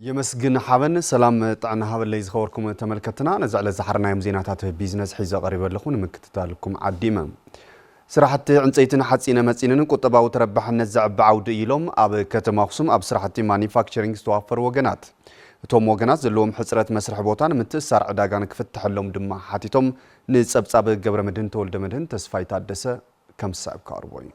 የመስግን ሓበን ሰላም ጥዕና ሃበለይ ዝኸበርኩም ተመልከትና ነዚ ዕለት ዝሓርናዮም ዜናታት ቢዝነስ ሒዘ ቀሪበ ኣለኹ ንምክትታልኩም ዓዲመ ስራሕቲ ዕንፀይትን ሓፂነ መፂንን ቁጠባዊ ተረባሕነት ዘዕቢ ዓውዲ እዩ ኢሎም ኣብ ከተማ ኣኽሱም ኣብ ስራሕቲ ማኒፋክቸሪንግ ዝተዋፈሩ ወገናት። እቶም ወገናት ዘለዎም ሕፅረት መስርሒ ቦታን ምትእስሳር ዕዳጋን ክፍተሐሎም ድማ ሓቲቶም። ንፀብፃብ ገብረመድህን ተወልደመድህን ተስፋይ ታደሰ ከም ዝስዕብ ክቐርቦ እዩ።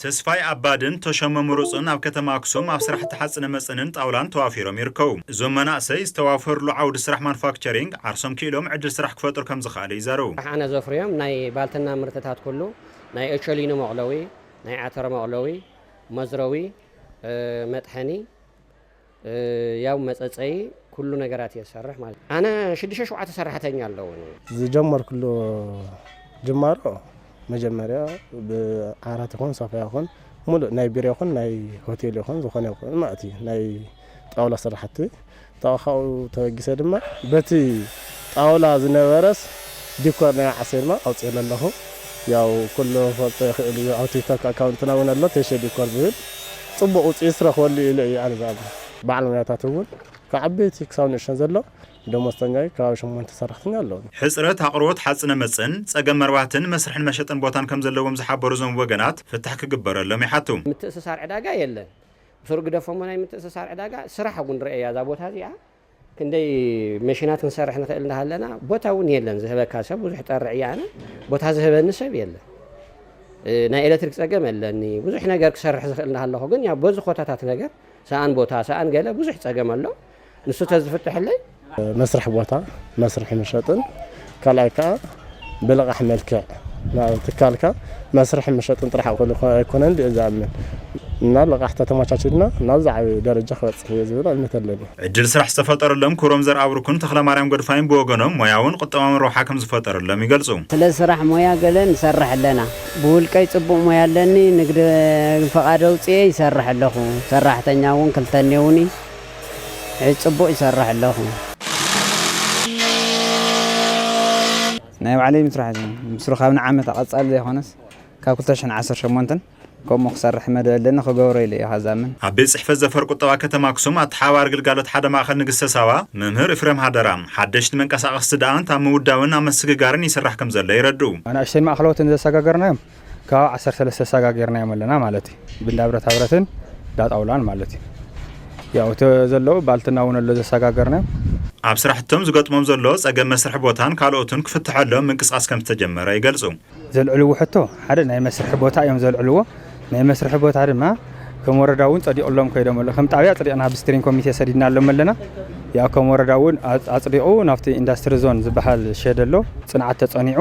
ተስፋይ ኣባድን ተሾመ ምሩፅን ኣብ ከተማ ኣክሱም ኣብ ስራሕቲ ሓፅነ መፅንን ጣውላን ተዋፊሮም ይርከቡ። እዞም መናእሰይ ዝተዋፈርሉ ዓውዲ ስራሕ ማኑፋክቸሪንግ ዓርሶም ክኢሎም ዕድል ስራሕ ክፈጥሩ ከምዝኸኣለ ይዛረቡ። ራሕኣነ ዘፍርዮም ናይ ባልትና ምህርትታት ኩሉ ናይ ኦቾሊኒ መቑለዊ፣ ናይ ዓተሮ መቑለዊ፣ መዝረዊ፣ መጥሐኒ፣ ያው መጸጸዪ ኩሉ ነገራት እየ ዝሰርሕ ማለት እዩ። ኣነ ሽዱሽተ ሸውዓተ ሰራሕተኛ ኣለዉኒ። ዝጀመርኩሉ ጅማሮ መጀመርያ ብዓራት ይኹን ሶፋ ይኹን ሙሉእ ናይ ቢሮ ይኹን ናይ ሆቴል ይኹን ዝኾነ ይኹን ማለት እዩ ናይ ጣውላ ስራሕቲ ካብኡ ተበጊሰ ድማ በቲ ጣውላ ዝነበረስ ዲኮር ናይ ዓሴርማ ኣውጺኤሉ ኣለኹ ያው ኩሉ ክፈልጦ ይኽእል ኢዩ ኣብ ቲክቶክ ኣካውንትና ውን ኣሎ ቴሼ ዲኮር ዝብል ጽቡቕ ውጽኢት ዝረኽበሉ ኢዩ ኢለ ኢየ ኣነ ዝኣምን በዓል ሞያታት ውን ካብ ዓበይቲ ክሳብ ንእሽተን ዘሎ ደሞዝተኛ ኢዩ ከባቢ ሸሞንተ ሰራሕተኛ ኣለዉኒ። ሕጽረት ኣቕርቦት ሓጽነ መጽን፣ ጸገም መርባሕትን መስርሕን መሸጥን ቦታን ከምዘለዎም ዝሓበሩ እዞም ወገናት ፍታሕ ክግበረሎም ይሓቱ። ምትእስሳር ዕዳጋ የለን ብሱሩ ግደፎሞ ናይ ምትእስሳር ዕዳጋ ስራሕ ውን ርኣያ እዛ ቦታ እዚኣ ክንደይ መሽናት ክንሰርሕ ንክእል እንዳሃለና ቦታ እውን የለን ዝህበካ ሰብ ብዙሕ ጠርዕ እየ ኣነ ቦታ ዝህበኒ ሰብ የለን ናይ ኤሌክትሪክ ፀገም ኣለኒ ብዙሕ ነገር ክሰርሕ ዝኽእል እንዳሃለኹ ግን ያው በዚ ኮታታት ነገር ሰኣን ቦታ ሰኣን ገለ ብዙሕ ፀገም ኣሎ ንሱ ተዝፍትሐለይ መስርሒ ቦታ መስርሒ መሸጥን ካልኣይ ከዓ ብልቓሕ መልክዕ ናብ ትካልካ መስርሕን መሸጥን ጥራሕ ክውዕል ኣይኮነን ኢለ እየ ዝኣምን እና ልቓሕ ተተመቻቺሉልና ናብ ዝዓበየ ደረጃ ክበፅሕ እየ ዝብል እምነት ኣለኒ። ዕድል ስራሕ ዝተፈጠረሎም ክብሮም ዘርኣብሩክን ተኽለማርያም ጎድፋይን ብወገኖም፣ ሞያውን ቁጠባውን ረብሓ ከምዝፈጠረሎም ይገልፁ። ስለ ስራሕ ሞያ ገለ ንሰርሕ ኣለና። ብውልቀይ ፅቡቕ ሞያ ኣለኒ፣ ንግዲ ፍቓድ ኣውፂኤ ይሰርሕ ኣለኹ፣ ሰራሕተኛ እውን ክልተ እኔውኒ። ሕጅ ጽቡቅ ይሰርሕ ኣለኩ። ናይ ባዕለይ ምስራሕ እዚ ምስ ርካብ ንዓመታ ቀጻሊ ዘይኮነስ ካብ ክልተ ሽሕን ዓሰርተ ሸሞንተን ከምኡ ክሰርሕ መደብ ኣለኒ ክገብሮ ኢለ ኢዩ ከኣ ዝኣምን። ኣብ ቤት ጽሕፈት ዘፈር ቁጠባ ከተማ ኣክሱም ኣተሓባባሪ ግልጋሎት ሓደ ማእከል ንግስተ ሳባ መምህር እፍረም ሃደራ፣ ሓደሽቲ መንቀሳቐስቲ ደኣ እንተ ኣብ ምውዳብን ኣብ መስግጋርን ይስራሕ ከምዘሎ የረድኡ። ኣናእሽተይን ማእከለዎትን ዘሰጋገርናዮም ከባቢ ዓሰርተ ሰለስተ ሳጋ ጌርናዮም ኣለና ማለት እዩ ብንዳ ብረታ ብረትን እንዳ ጣውላን ማለት እዩ ያው እቲ ዘለዉ ባልትና እውን ኣሎ ዘሰጋገርናዮም ኣብ ስራሕቶም ዝገጥሞም ዘሎ ፀገም መስርሒ ቦታን ካልኦትን ክፍተሐሎም ምንቅስቓስ ከምዝተጀመረ ይገልፁ። ዘልዕልዎ ሕቶ ሓደ ናይ መስርሒ ቦታ እዮም ዘልዕልዎ። ናይ መስርሒ ቦታ ድማ ከም ወረዳ እውን ፀዲቕሎም ከይዶም ኣሎ ከም ጣብያ ኣፅዲቕና ብስትሪንግ ኮሚቴ ሰዲድናሎም ኣለና። ያው ከም ወረዳ እውን ኣፅ- ኣፅዲቑ ናብቲ ኢንዳስትሪ ዞን ዝበሃል ሸድ ኣሎ ፅንዓት ተፀኒዑ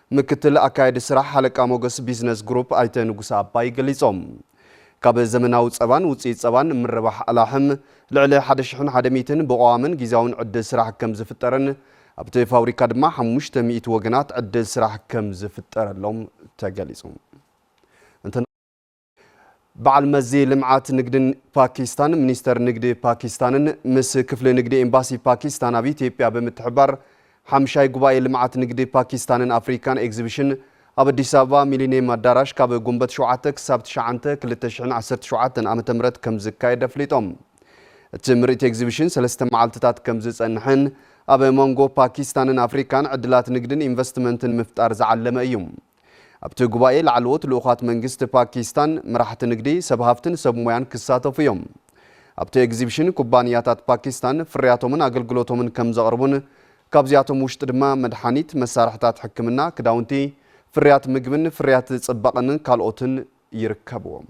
ምክትል ኣካያዲ ስራሕ ሃለቃ ሞገስ ቢዝነስ ግሩፕ ኣይተ ንጉሰ ኣባይ ገሊፆም። ካብ ዘመናዊ ፀባን ውፅኢት ፀባን ምርባሕ ኣላሕም ልዕሊ ሓደ ሽሕን ሓደ ሚእትን ብቐዋምን ጊዚያውን ዕድል ስራሕ ከምዝፍጠርን ኣብቲ ፋብሪካ ድማ ሓሙሽተ ሚእቲ ወገናት ዕድል ስራሕ ከምዝፍጠረሎም ተገሊፁ። በዓል መዚ ልምዓት ንግድን ፓኪስታን፣ ሚኒስተር ንግዲ ፓኪስታንን ምስ ክፍሊ ንግዲ ኤምባሲ ፓኪስታን ኣብ ኢትዮጵያ ብምትሕብባር ሓምሻይ ጉባኤ ልምዓት ንግዲ ፓኪስታንን ኣፍሪካን ኤግዚቢሽን ኣብ ኣዲስ ኣበባ ሚሊኒየም ኣዳራሽ ካብ ጉንበት ሸውዓተ ክሳብ ትሽዓንተ ክልተ ሽሕን ዓሰርተ ሸውዓተን ዓመተ ምህረት ከም ዝካየድ ኣፍሊጦም። እቲ ምርኢት ኤግዚቢሽን ሰለስተ መዓልትታት ከም ዝጸንሕን ኣብ መንጎ ፓኪስታንን ኣፍሪካን ዕድላት ንግድን ኢንቨስትመንትን ምፍጣር ዝዓለመ እዩ። ኣብቲ ጉባኤ ላዕለዎት ልኡኻት መንግስቲ ፓኪስታን፣ መራሕቲ ንግዲ፣ ሰብ ሃፍትን ሰብ ሞያን ክሳተፉ እዮም። ኣብቲ ኤግዚብሽን ኩባንያታት ፓኪስታን ፍርያቶምን ኣገልግሎቶምን ከምዘቕርቡን ካብዚኣቶም ውሽጢ ድማ መድሓኒት፣ መሳርሕታት ሕክምና፣ ክዳውንቲ፣ ፍርያት ምግብን ፍርያት ፅባቐን ካልኦትን ይርከብዎም።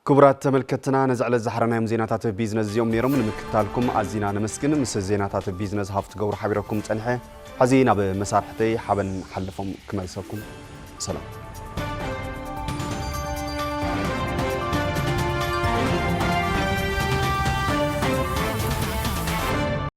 ክቡራት ተመልከትና ነዚ ዕለት ዝሓረናዮም ዜናታት ቢዝነስ እዚኦም ነይሮም ንምክትታልኩም ኣዚና ነመስግን ምስ ዜናታት ቢዝነስ ሃፍቲ ገብሩ ሓቢረኩም ጸኒሐ ሕዚ ናብ መሳርሕተይ ሓበን ሓለፎም ክመልሰኩም ሰላም